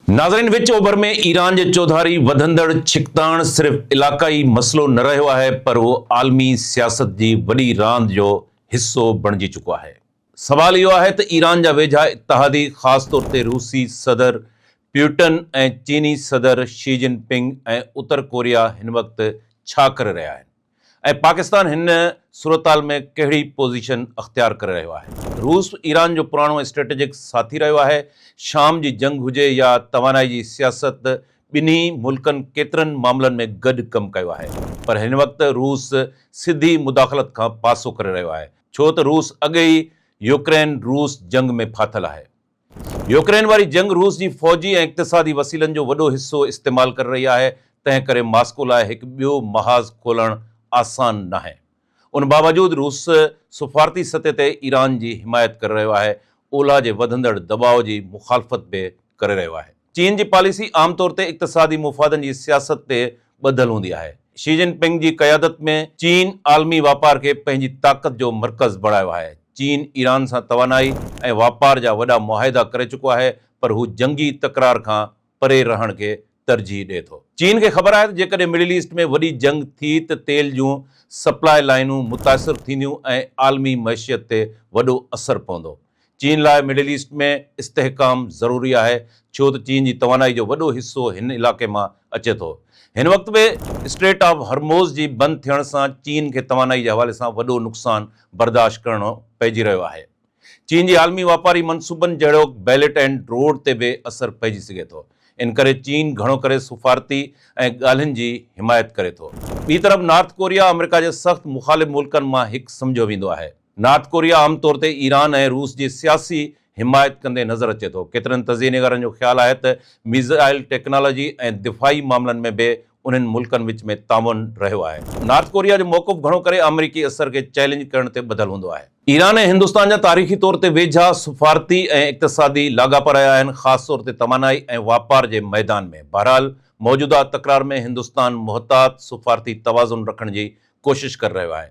ناظرين وچ اوڀر ۾ ايران جي چوڌاري وڌندڙ ڇڪتاڻ صرف علاقائي مسئلو نه رهيو آهي پر اهو عالمي سياست جي وڏي راند جو حصو بڻجي چڪو آهي. سوال اهو آهي ته ايران جا ويجها اتحادي خاص طور تي روسي صدر پيوٽن ۽ چيني صدر شي جن پنگ ۽ اتر ڪوريا هن وقت ڇا ڪري رهيا آهن؟ ۽ پاڪستان هن صورتحال ۾ ڪهڙي پوزيشن اختيار ڪري رهيو آهي؟ روس ايران جو پراڻو اسٽريٽجڪ ساٿي رهيو آهي، شام جي جنگ هجي يا توانائي جي سياست ٻنهي ملڪن ڪيترن معاملن ۾ گڏ ڪم ڪيو آهي پر هن وقت روس سڌي مداخلت کان پاسو ڪري رهيو آهي ڇو ته روس اڳي ئي يوڪرين روس جنگ ۾ ڦاٿل آهي. يوڪرين واري جنگ روس جي فوجي ۽ اقتصادي وسيلن جو وڏو حصو استعمال ڪري رهي آهي، تنهن ڪري ماسڪو لاء هڪ ٻيو محاذ کولڻ آسان ناهي. ان باوجود روس سفارتي سطح تي ايران جي حمايت ڪري رهيو آهي، اولهه جي وڌندڙ دٻاء جي مخالفت به ڪري رهيو آهي. چين جي پاليسي عام طور تي اقتصادي مفادن جي سياست تي ٻڌل هوندي آهي. شي جن پنگ جي قيادت ۾ چين عالمي واپار کي پنهنجي طاقت جو مرڪز بڻايو آهي. چين ايران سان توانائي ۽ واپار جا وڏا معاهدا ڪري چڪو آهي پر هو جنگي تڪرار کان پري رهڻ کي ترجيح ڏئي ٿو. چين کي خبر آهي ته جيڪڏهن مڊل ايسٽ ۾ وڏي جنگ ٿي ته تيل جون سپلاء لائينون متاثر ٿينديون ۽ عالمي معشيت تي وڏو اثر پوندو. چين لاء مڊل ايسٽ ۾ استحڪام ضروري آهي ڇو ته چين جي توانائي جو وڏو حصو هن علائقي مان اچي ٿو. هن وقت به اسٽريٽ آف هرموز جي بند ٿيڻ سان چين کي توانائي جي حوالي سان وڏو نقصان برداشت ڪرڻو پئجي رهيو آهي. چين جي عالمي واپاري منصوبن جهڙوڪ بيلٽ اينڊ روڊ تي به اثر پئجي سگهي ٿو. ان ڪري چين گهڻو ڪري سفارتي ۽ ڳالهين جي حمايت ڪري ٿو. ٻي طرف نارٿ ڪوريا آمريڪا جي سخت مخالف ملڪن مان هڪ سمجهيو ويندو آهي. نارٿ ڪوريا عام طور تي ايران ۽ روس جي سياسي حمايت ڪندي نظر اچي ٿو. ڪيترن تجزئي نگارن جو خيال آهي ته ميزائل ٽيڪنالاجي ۽ دفاعي معاملن ۾ به انهن ملڪن وچ ۾ تعاون رهيو آهي. نارٿ ڪوريا جو موقف گهڻو ڪري آمريڪي اثر کي چئلينج ڪرڻ تي ٻڌل هوندو آهي. ايران ۽ هندستان جا تاريخي طور تي ويجها سفارتي ۽ اقتصادي لاڳاپا رهيا آهن، خاص طور تي توانائي ۽ واپار جي ميدان ۾. بهرحال، موجوده تڪرار ۾ هندستان محتاط سفارتي توازن رکڻ جي ڪوشش ڪري رهيو آهي.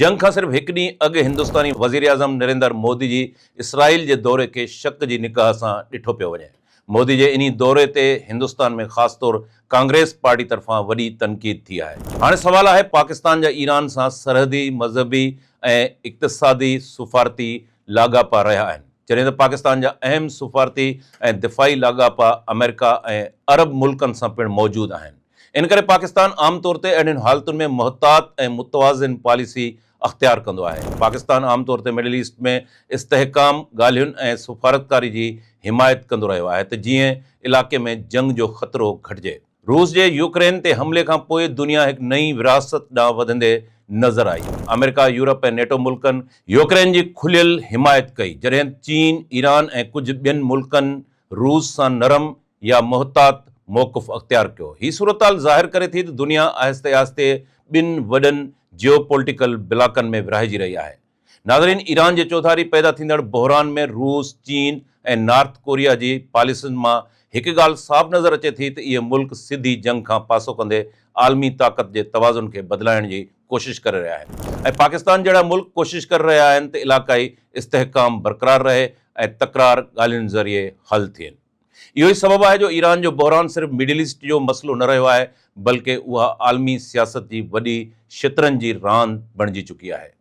جنگ کان صرف هڪ ڏينهن اڳ هندستاني وزيراعظم نريندر مودي جي اسرائيل جي دوري کي شڪ جي نگاهه سان ڏٺو پيو وڃي. مودي جي انهي دوري تي هندستان ۾ خاص طور ڪانگريس پارٽي طرفان وڏي تنقيد ٿي آهي. هاڻي سوال آهي پاڪستان جا ايران سان سرحدي، مذهبي ۽ اقتصادي سفارتي لاڳاپا رهيا آهن. جڏهن ته پاڪستان جا اهم سفارتي ۽ دفاعي لاڳاپا آمريڪا ۽ عرب ملڪن سان پڻ موجود آهن. ان ڪري پاڪستان عام طور تي اهڙين حالتن ۾ محتاط ۽ متوازن پاليسي اختيار ڪندو آهي. پاڪستان عام طور تي مڊل ايسٽ ۾ استحڪام ڳالهين ۽ سفارتڪاري جي حمايت ڪندو رهيو آهي ته جيئن علائقي ۾ جنگ جو خطرو گهٽجي. روس جي يوڪرين تي حملي کان پوء دنيا هڪ نئين ورهاست ڏانهن وڌندي نظر آئي. آمريڪا، يورپ ۽ نيٽو ملڪن يوڪرين جي کليل حمايت ڪئي جڏهن چين، ايران ۽ ڪجهه ٻين ملڪن روس سان نرم يا محتاط موقف اختيار ڪيو. هي صورتحال ظاهر ڪري ٿي ته دنيا آهستي آهستي ٻن وڏن جيوپولٽيڪل بلاڪن ۾ ورهائجي رهي آهي. ناظرين ايران جي چوڌاري پيدا ٿيندڙ بحران ۾ روس، چين ۽ نارٿ ڪوريا جي پاليسين مان هڪ ڳالهه صاف نظر اچي ٿي ته اهي ملڪ سڌي جنگ کان پاسو ڪندي عالمي طاقت جي توازن کي بدلائڻ جي ڪوشش ڪري رهيا آهن ۽ پاڪستان جهڙا ملڪ ڪوشش ڪري رهيا آهن ته علاقائي استحڪام برقرار رهي ۽ تڪرار ڳالهين ذريعي حل ٿين. اهو ئي سبب آهي جو ايران جو بحران صرف مڊل ايسٽ جو مسئلو نه رهيو آهي بلڪه اها عالمي سياست جي وڏي شطرنج جي راند بڻجي چڪي آهي.